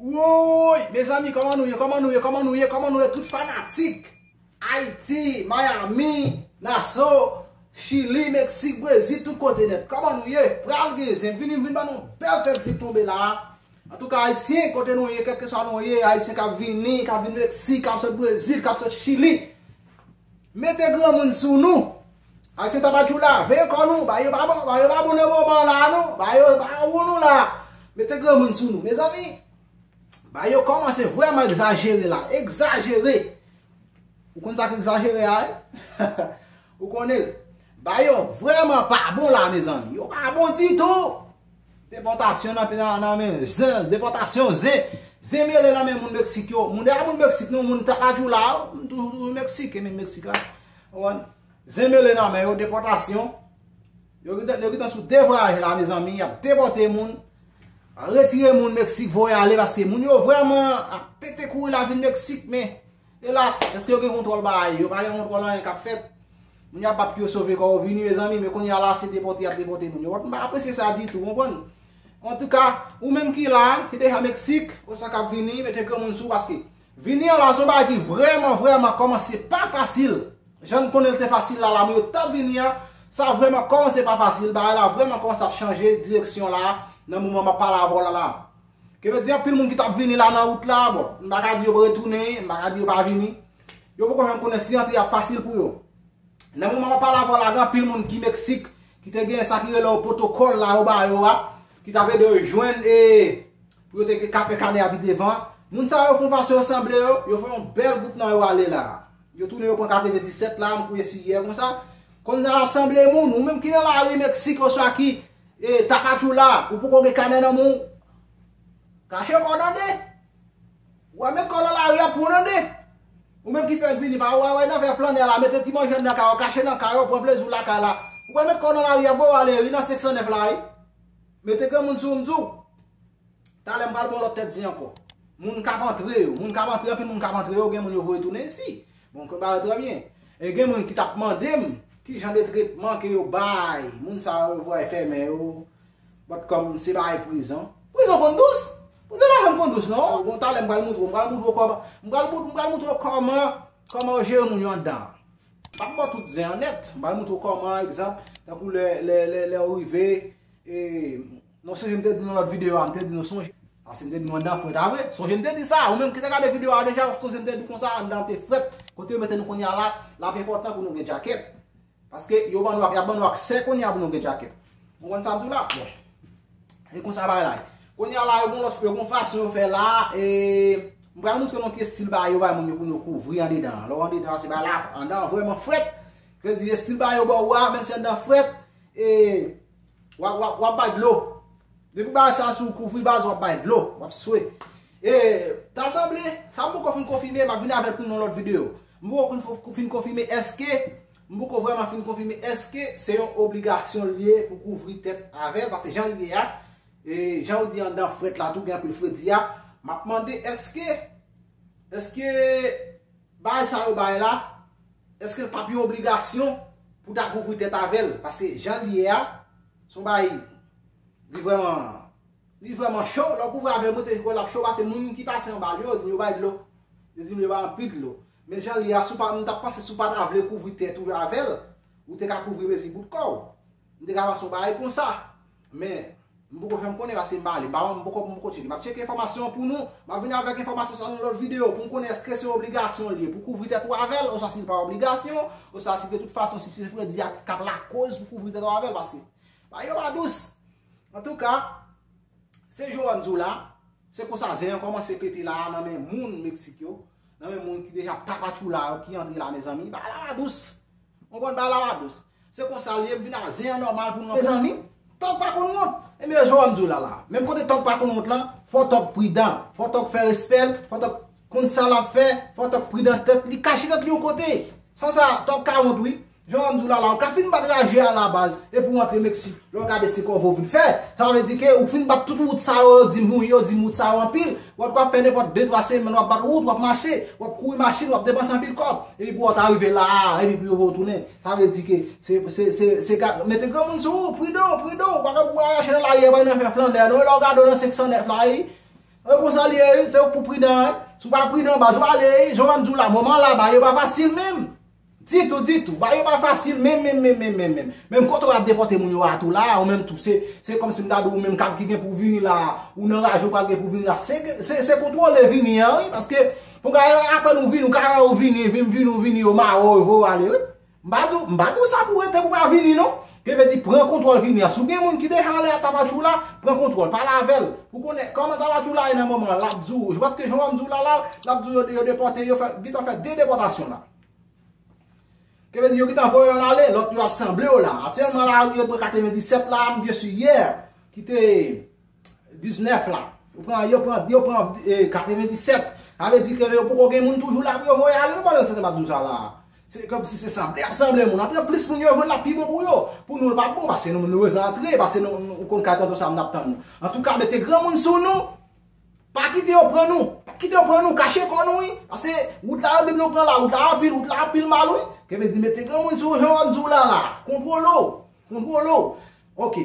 Woyy mezanmi koman nou ye koman nou ye koman nou ye koman nou ye tout fanatik Haïti Miami Nassau Chili Mexique Brésil tout kote nèt koman nou ye pral gen zen vini m vin ba nou yon bèl tèt zip tonbe la a antouka Haïtien kote nou ye kèlkeswa nou ye Haïtien kap vini kap vin Mexique kap sot Brésil kap sot Chili. Mete granmoun sou nou. Ayisyen ta pa tjou lave kò nou. Bagay yo pa bon, bagay yo pa bon nan moman la non. Bagay yo pa bon nou la. Mete granmoun sou nou. Mezanmi, bagay yo kòmanse vrèman egzajere la. Egzajere. Ou konn sa k egzajere a wi. Ou konnen l. Bagay yo vrèman pa bon la mezanmi. Yo pa bon ditou. Depòtasyon nan pena nan men zen depòtasyon zen zen mele nan men moun meksik yo moun deja moun meksik nou moun tapajou la moun toujou toujou meksik men meksik la konprann zen mele nan men yo depòtasyon yo gen yo gentan sou de vwayaj la mezanmi yap depòte moun retire moun meksik voye ale paske moun yo vrèman ap pete kouri la vin meksik men Elas! Eske yo gen kontwòl baay? Yo pa gen kontwòl anyen kap fèt. Moun yo ap bat pou yo sove kò yo. Vini mezanmi, men kounye a la se depòte yap depòte moun yo. Wap m pa apresye sa ditou, ou konprann? Antouka, ou menm ki la, ki deja Meksik, oswa kap vini, mete granmoun sou ou paske vini an la son bagay ki vrèman, vrèman kòmanse pa fasil. Jan n konnen l te fasil la, la moun yo tap vini an, sa vrèman kòmanse pa fasil. Bagay la vrèman kòmanse ap chanje direksyon la nan moman map pale avè w la la. Ke vle di anpil moun ki tap vini la nan wout la, bon, m pa ka di yo retounen, m pa ka di yo pa vini. Yo poko janm konnen si antre a ap fasil pou yo. Nan moman map pale avè w la gen anpil moun ki Meksik ki te gen sa ki rele yo pwotokòl la yo ba yo a, ki tap ede yo jwenn e pou yo te ka fè kanè a pi devan. Moun sa yo fon fason yo sanble yo, yo fè yon bèl gwoup nan yo ale la. Yo tounen yo pran kafe de 17 la, m kwè se yè konsa. Konn jan yap sanble moun, ou menm ki nan lari Meksik oswa ki E tapatchoula ou poko gen kanè nan menw kache kòw nan de ou al met kòw nan lari ap pran nan de ou menm ki fèk vini pa ou al wè nan vè flannè la mete ti manjew nan kay ou kache nan kay ou pran pleziw lakay la ou pral met kòw nan lari a bro ale wi nan 509 la wi mete granmoun sou ou m diw talè m pral bon lòt tèt zen ankò moun kap antre yo moun kap antre anpil moun kap antre yo gen moun yo voye tounen isi. Bon konba yo trè byen. E gen moun ki tap mande m ki jan de tretman ke yo bay moun sa yo yo voye fèmen yo bòt kòm se bay prizon. Prizon konn dous? Prizon pa janm konn dous non. Bon talè m pral moutre w, m pral moutre w kòman, m pral m pral moutre w kòman kòman yo jere moun yo anndan an. M pap ba w tout zen an nèt, m pral moutre w kòman egzanp tankou lè lè lè lè ou rive e Mwen sonje m te di nan lòt videyo a, m te di nou sonje. Pase m te di nou anndan frèt a vre. Sonje m te di sa. Ou menm ki te gade videyo a deja, ou sonje m te di konsa anndan te frèt. Kote yo mete nou kounye a la, l ap enpòtan pou nou gen djakèt. Paske yo ban nou ak, y ap ban nou aksè kounye a pou nou gen djakèt. Ou konprann sa m di w la? Bon. E konsa bagay la ye. Kounye a la, yo gen yon lòt, yo gen yon fason yo fè la. E m pral montre nou ki estil bagay yo bay moun yo pou nou kouvri andedan an. Lè w andedan an, se bagay la, anndan an vrèman frèt. Vle di estil bagay yo ba ou a, menm si anndan an frèt, e Wap bay dlo. Depi w bay sa sou w kouvri baz wap bay dlo. Wap swe. E ta sanble, sa m poko fin konfime, map vini avèk nou nan lòt videyo. M poko fin konfime eske, m poko vreman fin konfime eske se yon obligasyon li ye pou kouvri tèt avèl. Pase jan li ye a, e jan ou di andan frèt la tou gen anpil fredi a. Map mande eske, eske... Baay sa yo bay la, eske l pap yon obligasyon pou ta kouvri tèt avè l? Paske jan l ye a, se yon baay, li vrèman, li vrèman cho, lè w kouvri avè l mwen te kwè l ap cho pase moun ki pase anba l yo, yo di m yo bay dlo, yo di m yo bay anpil dlo. Men jan l ye a, si w pa, m ta panse si w pa ta vle kouvri tèt ou avè l, ou te ka kouvri mezi bout kò w. M te ka panse yon bagay konsa. Men, m poko fè m konnen paske m pa ale. Ba m poko m poko tcheke. M ap tcheke enfòmasyon an pou nou. M ap vini avèk enfòmasyon sa nan lòt videyo pou m konnen èske se obligasyon li ye pou kouvri tèt ou avè l oswa si l pa obligasyon oswa si de tout fason si se fredi a k ap lakoz pou kouvri tèt ou avè l paske bagay yo pa dous. Antouka, se jan wè m di w la, se konsa zen an kòmanse pete la a nan men moun Meksik yo, nan men moun ki deja tapatchoula yo ki antre la mezanmi. Bagay la pa dous. Mwen konn bay la wadous. Se konsa l ye, m vin a zen an nòmal pou nou. Mezanmi, tòg pa konn wont. Ebyen yo jwe wè m di w la la. Menm kote tòg pa konn wont lan, fò tòg pridan. Fò tòg fè respè l, fò tòg konn sa l ap fè, fò tòg pridan tèt li, kache tèt li yon kote. San sa, tòg ka wont wi. Jan w wè m di w la la, ou ka fin bat raje a la baz, epi w antre Meksik. Lè w gade se kòve w vin fè. Sa vle di ke ou fin bat tout wout sa yo, yo di m wi, yo di m wout sa yo anpil. Wap wap fè nenpòt de twa semèn wap bat wout wap mache wap kouri machin wap depanse anpil kòb epi pou wap ta rive la a epi pou yo vè w tounen sa vle di ke se se se ga mete granmoun sou ou pridan pridan ou pa ka pou bwa rache nan lari a epi nan fè flandè non lè w gade w nan 509 la wi e konsa l ye wi se ou k pou pridan wi si w pa pridan baz wale wi jan w wè m di w la moman la bagay yo pa fasil menm. Ditou ditou, bagay yo pa fasil menm menm menm menm menm menm. Menm kote ou ap depòte moun yo a tou la a ou menm tou se, se kòm si m ta di w ou menm kap ki gen pou w vini la a, ou nan raje ou pral gen pou w vini la a. Se ke, se, se kontwole vini an wi paske pou bagay yo apèn ou vini ou ka wè ou vini, vim vini ou vini yo mare w yo voye w ale wi. M pa di w, m pa di w sa pou w rete pou w pa vini non. Pepe di pran kontwòl vini a. Si w gen moun ki deja ale a Tapachula, pran kontwòl, pale avè l pou w konnen kòman Tapachula ye nan moman an. L ap di w, je panse ke jan w ap m di w la la, l ap di w yo depòte, yo gentan fè 2 depòtasyon la. Pepe di yo gentan voye youn ale, lòt yo ap sanble yo la. Aktyèlman la yo te pran 97 la, m byen si yè ki te. 19 la. Yo pran, yo pran, yo pran 97. Sa vle di ke yo poko gen moun toujou la pou yo voye ale non pandan se tan m ap di w sa la a. Se kòm si se sanble ap sanble moun. Antre plis moun yo jwenn l ap pi bon pou yo. Pou nou l pa bon paske nou bezwen antre, paske nou ou konn kay tonton Sam n ap tann nou. Antouka mete granmoun sou nou. Pa kite yo pran nou. Pa kite yo pran nou. Kache kò nou wi. Paske wout la yo di nou pran la. Wout la anpil, wout la anpil mal wi. Ke vle di mete granmoun sou ou jan m ap di w la la a. Kontwole w. Kontwole w. Ok.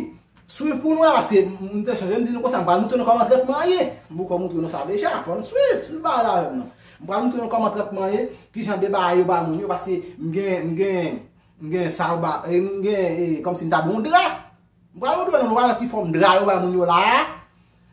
Swiv pou nou a se m te chanje m di nou konsa m pral moutre nou kòman trètman an ye. M poko moutre nou sa deja, fò n swiv, swiv bagay la avè m nan. M pral moutre nou kòman trètman an ye, kijan de bagay yo ba moun yo paske m gen m gen m gen sa yo ba e m gen e kòmsi m ta bon dra. M pral moutre nou nou pral wè ki fòm dra yo ba moun yo la a.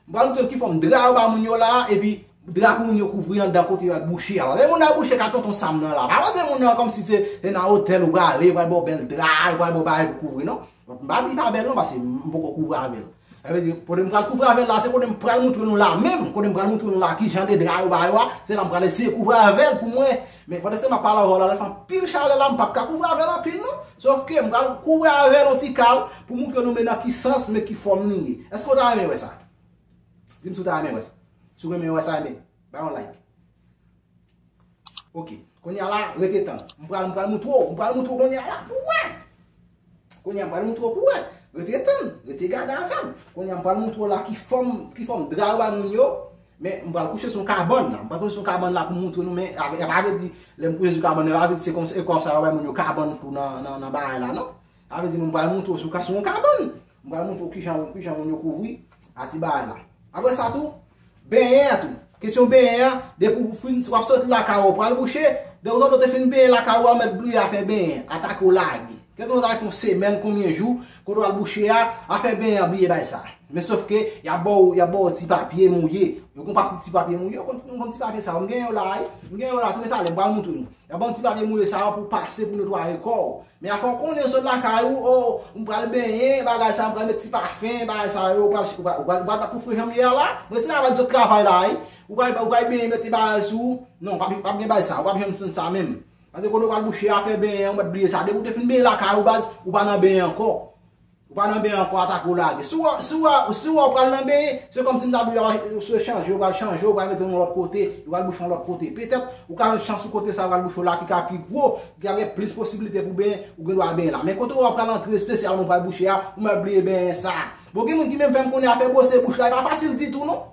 M pral montre w ki fòm dra yo ba moun yo la a epi dra pou moun yo kouvri andan kote yo al bouche a. Paske moun al bouche ka tonton Sam nan la. Pa panse moun nan kòmsi se nan otèl ou prale yo pral ba w bèl dra, yo pral ba w bagay pou kouvri non. M pa di li pa bèl non paske m poko kouvri avè l. Sa vle di kote m pral kouvri avè l la se kote m pral montre nou la menm, kote m pral montre nou la kijan de dra yo ba yo a, se la m pral eseye kouvri avè l pou m wè. Men pandan se tan map pale avèw la lè fè anpil chalè la mpap ka kouvri avèl anpil non sof ke mpral kouvri avèl yon ti kal pou moutre nou men nan ki sans men ki fòm li ye eske ou ta renmen wè sa dim si ou ta renmen wè sa si ou renmen wè sa ebyen bay yon like ok kounya la rete tann mpral mpral moutre w mpral moutre w kounya la pou wè. Kounye a m pral moutre w pou wè. Rete tann, rete gade avè m. Kounye a m pral moutre w la ki fòm, ki fòm dra yo ba moun yo. Men m pral kouche sou yon kabann la. M pral kouche sou yon kabann la pou m moutre nou men e pa vle di lè m kouche sou kabann nan e pa vle di se konsa yo bay moun yo kabann pou nan nan bagay la non. Sa vle di m pral moutre w sou ka sou yon kabann. M pral montre w kijan moun yo kouvri a ti bagay la. Apre sa tou, benyen an tou. Kesyon benyen an, depi ou fin, si w ap soti lakay ou, ou pral bouche, donk lè w te fin benyen lakay ou a, ou mèt bliye afè benyen an, atake w lage. Kèlkeswa sa fè yon semèn, konbyen jou, kote w al bouche a, afè benyen an bliye bay sa. Men sof ke, y ap ba w, y ap ba w ti papye mouye. Yo gen yon pakèt ti papye mouye, ou konn ti papye sa yo. M gen yo la a wi. M gen yo la a tou men talè m pral montre nou. Nan banm ti papye moule sa yo pou pase pou netwaye kò w. Men afè w konnen w sot lakay ou, o, m pral benyen, bagay sa yo, m pral met ti pafen, bagay sa yo, ou pral, ou pral, ou pral bat pou fre jan m ye a la? M rete travay di zòt travay la wi. Ou pral, ou pral benyen mete bagay sou ou? Non, pa p gen bagay sa yo, ou pa p janm santi sa menm. Paske kote ou pral bouche a, fè benyen an, ou mèt bliye sa. Depi w te fin benyen lakay ou baz, ou pa nan benyen ankò. Ou pa nan ben an ankò atake ou lage. Si ou wè ou pral nan ben, se kòm si m ta di ou se chanje, ou pral chanje, ou pral mete yon lòt kote, ou pral bouche yon lòt kote. Petèt, ou ka jwenn chans sou kote sa ou pral bouche w la ki ka pi gwo, ki ka gen plis posiblite pou benyen, ou gen dwa benyen la. Men kote ou wè ou pral antre, espesyalman ou pral bouche a, ou mèt bliye benyen sa. Bon gen moun ki menm fè m konnen afè bwose bouch la e pa fasil ditou non.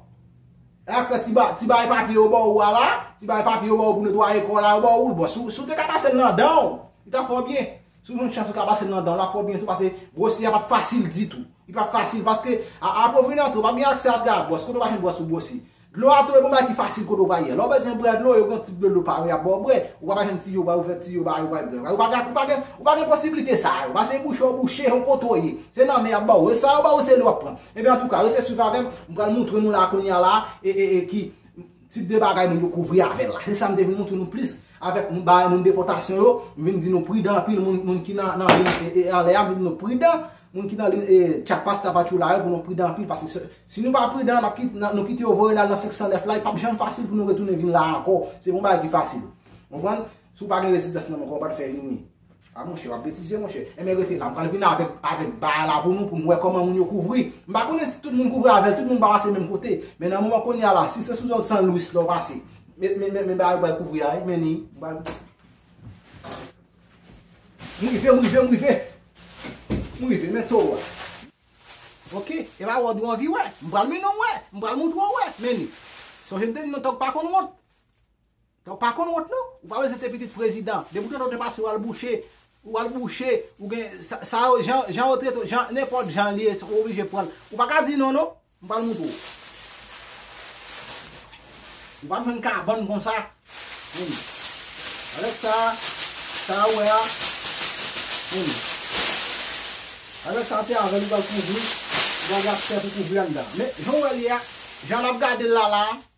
E ak fè ti bagay papye yo ba ou a la, ti bagay papye yo ba ou pou netwaye kò la yo ba ou l. Bon si ou te ka pase l nan dan ou, li t ap fè w byen. Si w jwenn chans ou ka pase l nan dan w la fè w byen tou pase bwose a pap fasil ditou. Li pap fasil paske apre w vini antre ou pap gen aksè a dlo a bwòs kote w pa jwenn bwòs pou bwose. Dlo a tou e pa yon bagay ki fasil kote w va ye. Lè w bezwen bwè dlo yo gen yon tip dlo yo pare y ap ba w bwè. Ou ka pa jwenn tiyo bay ou fè tiyo bay ou bay bwè. Ou pa gen posiblite sa yo. Pase bouche w bouche yon kote w ye. Se nan men y ap ba w. E sa yo ba w se lè w ap pran. Ebyen antouka rete swiv avè m. M pral moutre nou la kounye a la e ki. Tip de bagay moun yo kouvri avè l la. Se sa m te vin montre nou plis avèk moun bagay moun depòtasyon yo. M vin di nou pridan anpil moun ki nan liy anlè a. M vin di nou pridan moun ki nan liy Chiapas, Tapachula yo pou nou pridan anpil. Paske si nou pa pridan nou kite yo voye n al nan 509 la, li pap janm fasil pou nou retounen vin la ankò. Se pa yon bagay ki fasil. Konprann? Si w pa gen rezidans nan men w, kòman w pral fè vini? A monchè, wap betize monchè. Enben rete la, m pral vin avèk avèk ba a la pou nou pou m wè kòman moun yo kouvri. M pa konnen si tout moun kouvri avèl, tout moun pa pase menm kote. Men nan moman kounye a la, si se sou zòn San Louis la w pase, men men men bagay yo pral kouvri a wi, men ni. M pral M rive, m rive, m rive. M rive, men towo a. Ok, e ba wòd ou anvi wè. M pral mennen w wè. M pral montre w wè, men ni. Sonje m te di nou tòg pa konn wont. Ou pa konn wont non, ou pa bezwen te pitit prezidan, depi ou tande yon depase ou al bouche, ou al bouche, ou gen, sa yo jan, jan yo trete w, jan, nenpòt jan li ye ou oblije pran l, ou pa ka di non non, m pral moutre w. Ou pap jwenn kabann konsa. Em. Avèk sa, sa ou wè a, em. Avèk sa se avèl ou pral kouvri, ou pral gen ap sèt ou kouvri anndan. Men, jan ou wè l ye a, jan n ap gade l la la,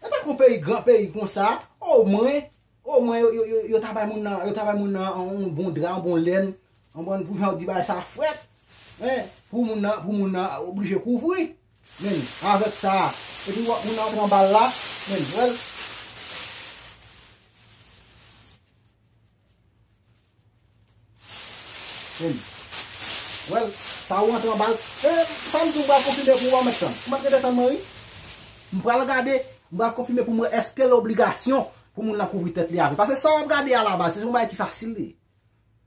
Sa ta kon peyi gran peyi konsa, o mwen, o mwen yo ta bay moun nan, yo ta bay moun nan yon bon dra, yon bon lèn, yon bon pou jan di bay sa frèt, men pou moun nan, pou moun nan oblije kouvri, men avèk sa, e pi wap moun nan pran bal la, men wèl. Em. Well, sa ou antre anbal. Em, sa m di ou m pral konfime pou ou an mèt tann. Ou mèt rete tann mwen wi. M pral gade, m pral konfime pou m wè eske l obligasyon pou moun nan kouvri tèt li a vè. Pase sa w ap gade a la baz, se yon bagay ki fasil li ye.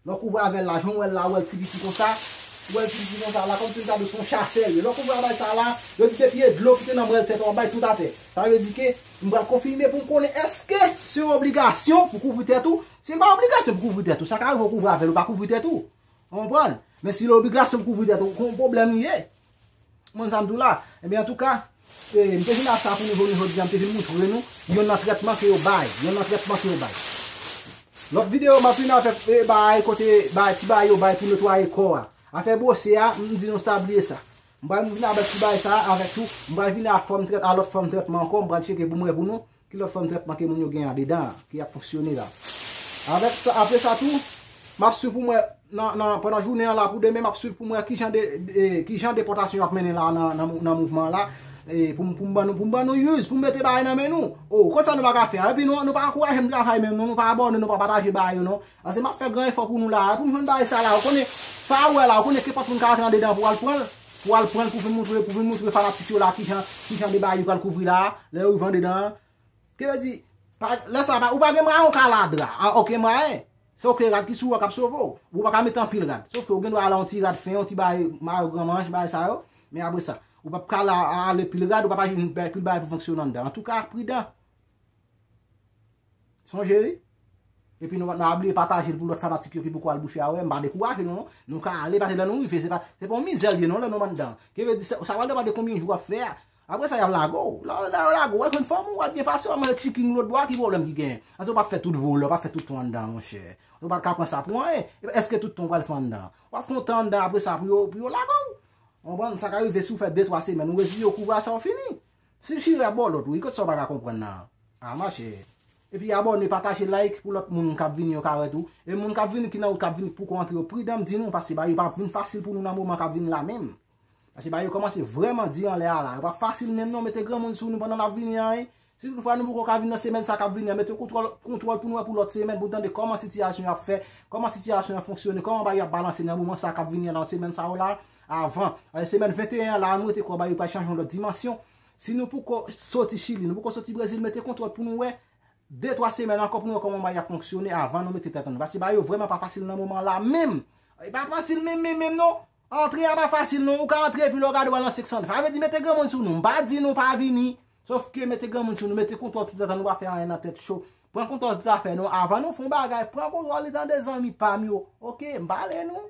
Lè w kouvri a vè la, jan w wè l la, ou wè l ti piti kon sa, ou wè l ti piti kon sa la, kòm si m ta di w se yon chasè l ye. Lè w kouvri a vè sa la, yo di depi e dlo ki te nan mwèl tèt ou an bay tout atè. Sa vle di ke m pral konfime pou m konnen eske se yon obligasyon pou kouvri tèt ou Se pa obligasyon pou kouvri tèt ou, sa ka rive ou kouvri avèl ou pa kouvri tèt ou. Ou konprann? Men si l obligasyon pou kouvri tèt ou, kon pwoblèm li ye. Konprann sa m di w la? Ebyen antouka, e m te vin ak sa pou nou jounen jodi a, m te vin moutre nou yonn nan trètman ke yo bay, yonn nan trètman ke yo bay. Lòt videyo m ap vin avèk e bagay kote bagay ti bagay yo bay pou netwaye kò a. Afè bwose a, m di nou sa bliye sa. M pral vin avèk ti bagay sa a avèk tou, m pral vin ak fòm trèt a lòt fòm trètman ankò, m pral tcheke pou m wè pou nou. Ki lòt fòm trètman ke moun yo gen andedan an, ki ap fonksyone la? Avèk sa, apre sa tou, m ap swiv pou m wè, nan, nan, pandan jounen an la pou demen, m ap swiv pou m wè ki jan de, e, ki jan depòtasyon yo ap mennen la a nan, nan, nan mouvman an la, e, pou m, pou m ban nou, pou m ban nou use, pou m mete bagay nan men nou. O, konsa nou pa ka fè a. Epi nou, nou pa ankouraje m travay menm non, nou pa abòne, nou pa pataje bagay yo non. Pase map fè gran efò pou nou la a pou m jwenn bagay sa la ou konnen sa ou wè la ou konnen kenpòt moun ka rantre andedan pou al pranl pou al pranl pou vin moutre pou vin moutre fanatik yo la kijan kijan de bagay li pral kouvri la a lè ou rive andedan an ki vle di pa lè sa ou pa gen mwayen ou ka al a dra a oken mwayen se oken rad ki sou ou a kap sove ou ou pa ka mete anpil rad sof ke ou gen dwa al a yon ti rad fen yon ti bagay mayo gran manch bagay sa yo men apre sa ou pap ka al a ale pil rad ou pap aji anpil bagay pou fonksyonan andedan antouka pridan. Sonje wi. E pi nou pa bliye pataje l pou lòt fanatik yo ki poko al bouche a wè. M pa dekouraje nou non. Nou ka ale pase lè nou rive. Se pa yon mizè l ye non lè nou anndan. Ki vle di sa pral depann de konbyen jou w ap fè a. Apre sa y ap lage w. Lè yo lage w, w ap jwenn fòm ou, w ap byen pase, w ap manje ti chiking lòt bò a. Ki pwoblèm ki genyen? Paske w pa fè tout vole, w pa fè tout tan w anndan monchè. Ou pa ka pran sa pou anyen. Epi èske tout tan w pral fè anndan? W ap fè yon tan anndan apre sa pou yo lage w. Ou konprann? Sa ka rive si w fè de twa semèn. Ou reziye w, kouvè a sa w fini. Swiv chire ap baw lot wi kot sa ou paka konprann nan an ah ma chère epi abòne pataje like pou lot moun kap vini yo ka wè tou e moun kap vini ki nan wout kap vini pouko antre yo pridan mdi nou paske bagay yo pap vin fasil pou nou nan moman kap vini la menm paske bagay yo komanse vrèman di anlè a la yo pap fasil menm non mete granmoun sou nou pandan nap vini an wi si tout fwa nou pouko ka vini nan semèn sa kap vini an mete kontwòl kontwòl pou nou wè pou lot semèn pou nou tande koman sitiyasyon yo ap fè koman sitiyasyon yo ap fonksyone koman bagay yo ap balanse nan moman sa kap vini an nan semèn sa yo la. Avan. Semèn 21 an la an nou rete kòba yo pral chanje yon lòt dimansyon. Si nou poko soti Chili, nou poko soti Brezil mete kontwòl pou nou wè. De twa semèn ankò pou nou wè kòman bagay ap fonksyone avan nou mete tèt ansanm. Paske bagay yo vrèman pa fasil nan moman an la menm. Li pa fasil menm menm menm non. Antre a pa fasil non. Ou ka antre epi lè w gade w al nan 500. Sa vle di mete granmoun sou nou. M pa di nou pa vini. Sof ke mete granmoun sou nou. Mete kontwòl tout ansanm nou pa fè anyen nan tèt cho. Pran kontwòl tout zafè nou. Avan nou fè yon bagay, pran kontwòl li tande zanmi pa m yo. Ok, m pale nou.